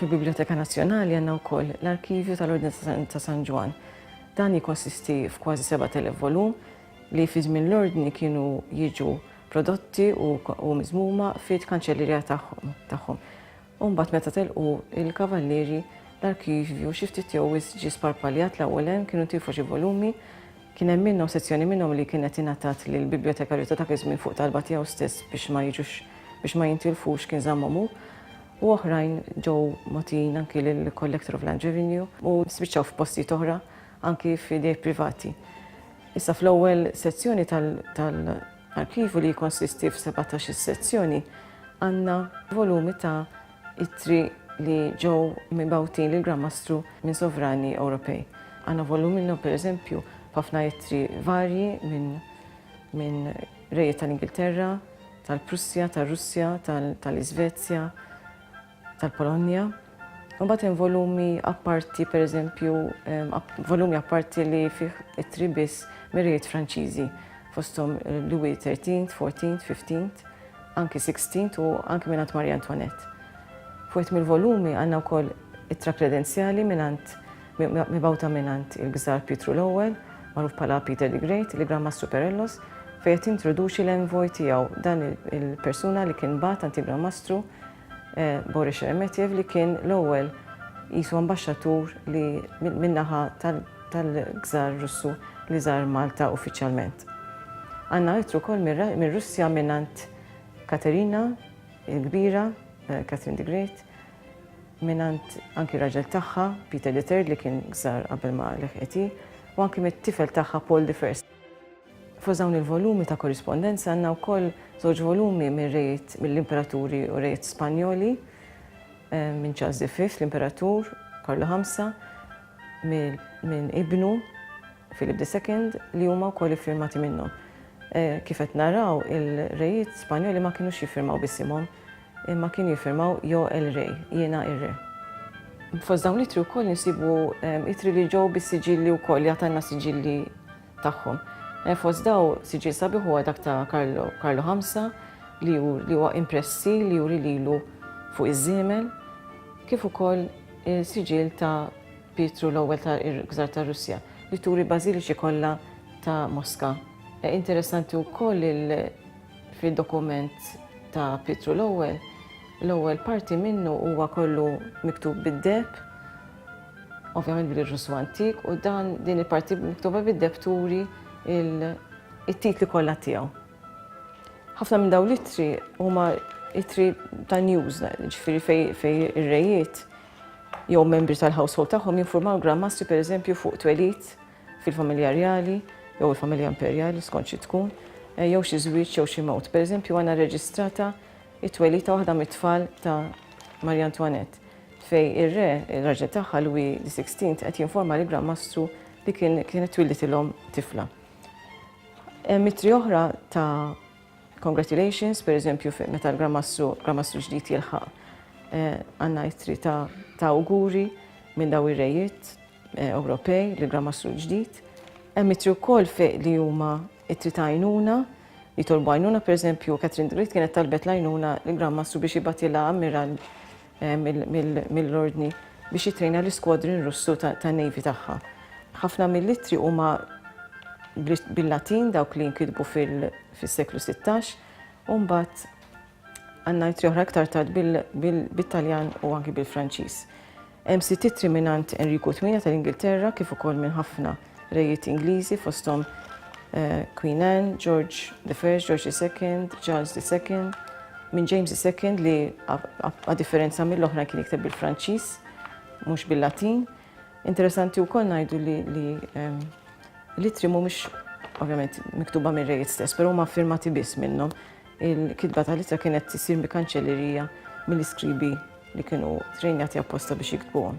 Fil-Biblioteka Nazzjonali għandna wkoll l-Arkivju tal-Ordni ta' San Ġwann. Dan jikkonsisti f'kważi 7,000 volum li fi żmien l-ordni kienu jiġu prodotti u miżmuma fit kanċellerija tagħhom. U mbagħad meta telqu l-Kavallieri, l-arkivju xi ftit jew wisq ġie sparpaljat l-ewwel hemm, kienu ntiefu xi volumi, kien hemm minnhom, sezzjoni minnhom li kienet ingħatat lill-bibjotekarju ta' dak iż-żmien fuq talba tiegħu stess biex ma jiġux, biex ma jintilfux, kien żammhom hu, u oħrajn ġew mogħtijin anki lill-Collector of Land Revenue u spiċċaw f'postijiet oħra anki f'idejn privati. Issa fl-ewwel sezzjoni tal-, tal-, Arkivju li jikkonsisti f'sebatax-il sezzjoni għandna volumi ta' ittri li ġew mibgħutin lill-Gran Mastru minn sovrani Ewropej. Għandna volum minnhom, pereżempju, b'ħafna ittri varji minn minn rejiet tal-Ingilterra, tal-Prussja, tar-Russja, tal-Iżvezja, tal-Polonja. Imbagħad hemm volumi apparti, pereżempju, volumi apparti li fih ittri biss mir-rejiet Franċiżi, fosthom Louis XIII, XIV, XV, anki XVI u anki mingħand Marie Antoinette. F'wieħed mill-volumi għandna wkoll ittra kredenzjali mingħand mibgħuta mingħand il-Gżar Pietru l-Ewwel, magħruf bħala Peter the Great, li Gran Mastru Perellos, fejn qed jintroduċi l-envoy tiegħu, dan il-persuna li kien bagħat għand il-Gran Mastru, Boris Sheremetyev li kien l-ewwel qisu ambaxxatur li min-naħa tal-Gżarr Russu li żar Malta uffiċjalment. Għandna ittru wkoll mir-Russja mingħand Katerina l-Kbira, Catherine the Great, mingħand anki r-raġel tagħha, Peter the Third li kien Gżarr qabel ma leħqet hi, u anki mit-tifel tagħha Paul the First. Fost dawn il-volumi ta' korrispondenza għandna wkoll żewġ volumi mir-rejiet mill-imperaturi u rejiet Spanjoli, minn Charles the Fifth, l-imperatur, Karlu Ħamsa, minn ibnu, Philip the Second, li huma wkoll iffirmati minnhom. Eh, kif qed naraw, il-rejiet Spanjoli ma kinux jiffirmaw bisimhom, imma kienu jiffirmaw Jo el Rey, jiena ir-Re. Fost dawn l-itri wkoll nisibu eh, itri li ġew bis-siġilli wkoll, jagħtanna siġilli tagħhom. Fost dawn siġill sabiħ huwa dak ta' Karlu Karlu Ħamsa li huwa impressi li juri lilu fuq iż-żiemel kif ukoll siġill ta' Pietru l-Ewwel ta' Gżar ta' Russja li turi bażiliċi kollha ta' Moska. E, interessanti wkoll fid-dokument ta' Pietru l-Ewwel, l-ewwel parti minnu huwa kollu miktub bid-deheb ovvjament bil-Russu antik, u dan din il-parti miktuba bid-deb turi it-titli kollha tiegħu. Ħafna minn daw l-ittri huma ittri ta' news, ġifieri fej ir-rejiet jew membri tal-household tagħhom jinformaw l-Grandmastri pereżempju fuq twelid fil-familja rjali jew il-familja imperjali skont xi tkun, eh, jew xi żwieġ jew xi mewt. Pereżempju għandna reġistrata it-twelid ta' waħda mit-tfal ta' Maria Antoinette. Fejn ir-re, ir-raġel tagħha Louis xvi qed jinforma lill-Gran Mastru li kienet twillitilhom tifla. Hemm ittri oħra ta' congratulations, pereżempju meta l-Gran Mastru, Gran Mastru ġdid jilħaq eh, għandna ittri ta' awguri minn daw ir-rejiet eh, Ewropej li Gran Mastru ġdid. Hemm ittri wkoll fejn li huma ittri ta' għajnuna jitolbu għajnuna, per eżempju, Catherine Great kienet talbet lajnuna l-Gran Mastru biex jibatilha ammiral mill-Ordni biex jittrejna l-iskwadrin Russu tan-Navy tagħha. Ħafna mill-ittri huma bil-Latin dawk li nkitbu fis-seklu 16 u mbagħad għandna ittri oħra iktar tard bil-Taljan u anki bil-Franċiż. Hemm sitt ittri mingħand Enriku 8 tal-Ingilterra kif ukoll minn ħafna Rejiet Ingliżi fosthom Queen Anne, George the First, George II, Charles II, minn James II li a differenza mill-oħra kien jikteb bil-Franċiż, mhux bil-Latin. Interessanti wkoll ngħidu li l-itri mhumiex ovvjament miktuba mir-rejiet stess, però huma firmati biss minnhom. Il-kitba tal-ittra kienet issir bi kanċellerija mill-iskribi li kienu trejnjati apposta biex jiktbuhom.